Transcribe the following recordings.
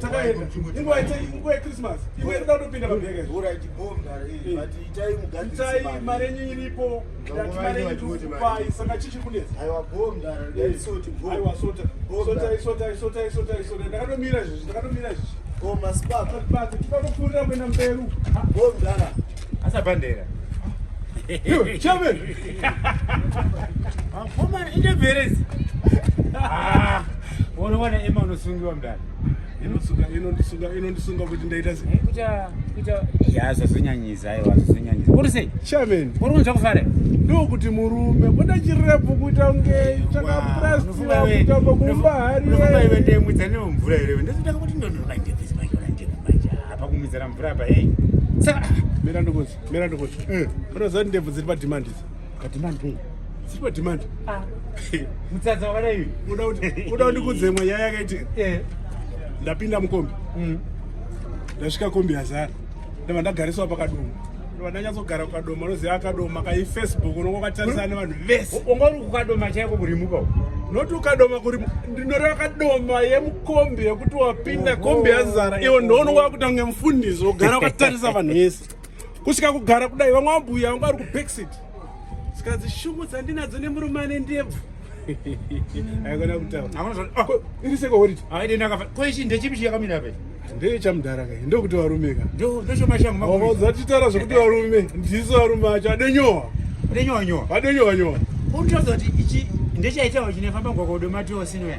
takaenda inguva inguva yechristmas imwe iri kutopinda pabheke itai mari yenyu iripo ndati mari yenyu tikupai saka chichi kunetsa aiwa sota sotai sotai sotai sotai sotai ndakatomira izvezvi ndakatomira izvezvi tipanopfuurira kuenda mberi bomdara asabhandera chairman akomana ah, indebherezi ah, unowana ema unosungiwa mdani inondisunga kuti ndaita yazvazonyanyisa aiwa zvazonyanyisa kuri sei chairman uri kunzva kufara ndokuti murume kuda chirepu kuita kunge chakaprasira kutamba kumba hariiwe ndemwidza nemvura here ndozotanga kuti ndondokaitepesa apakumizira mvura apa hey saka mira ndokozi mira ndokozi eh unoziva kuti ndebvu dziri pademand idzo pademand pei dziri pademand ah. mutsatsa wakadai uda kuti kudzemwa nyaya yakaiti eh. ndapinda mukombi mm. ndasvika kombi yazara ndava ndagariswa pakadoma vandanyatsogara kukadoma unoziva akadoma kai facebook unonga ukatarisana nevanhu vese unga uri kukadoma chaiko kurimuka noti ukadoma kuri ndinoreva kadoma yemu kombi yekuti wapinda kombi yazara iwo ndoona wakuita kunge mufundisi wogara wakatarisa vanhu vese kusvika kugara kudai vamwe vambuya vanga vari kubacksit saka dzishungu dzandinadzo nemurume ane ndebvu aikona kutaurakoichi ndechipi chiyakamira pe ndechamudhara kai ndokuti varume ka ndochomashangudzatitara zvekuti varume ndiso varume acho adenyowa adenyowa nyowa adenyowa nyowa kutaudza kuti ichi ndechaitawa chinefamba gwakwa udomatiosinwe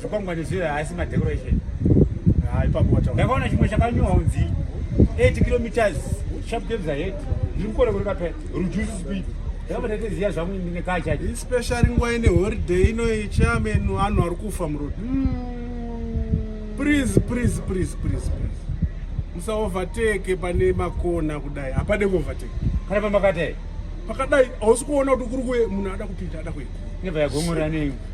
zvikwangwani zviya haasi madecoration ndakaona chimwe chakanyowa kunzi 8 kilometers sharp games ahead ndiri kukona kureka pe reduce speed ndakabatateziya zvangu ndinekachacho especially nguva ine holiday inoyi chairman vanhu vari kufa muroad hmm. please please please please please musaovertake pane makona kudai hapade kuovertake kana pamakadai pakadai hausi kuona kuti kuri kuye munhu ada kupinda ada kuye nebva yagomora nei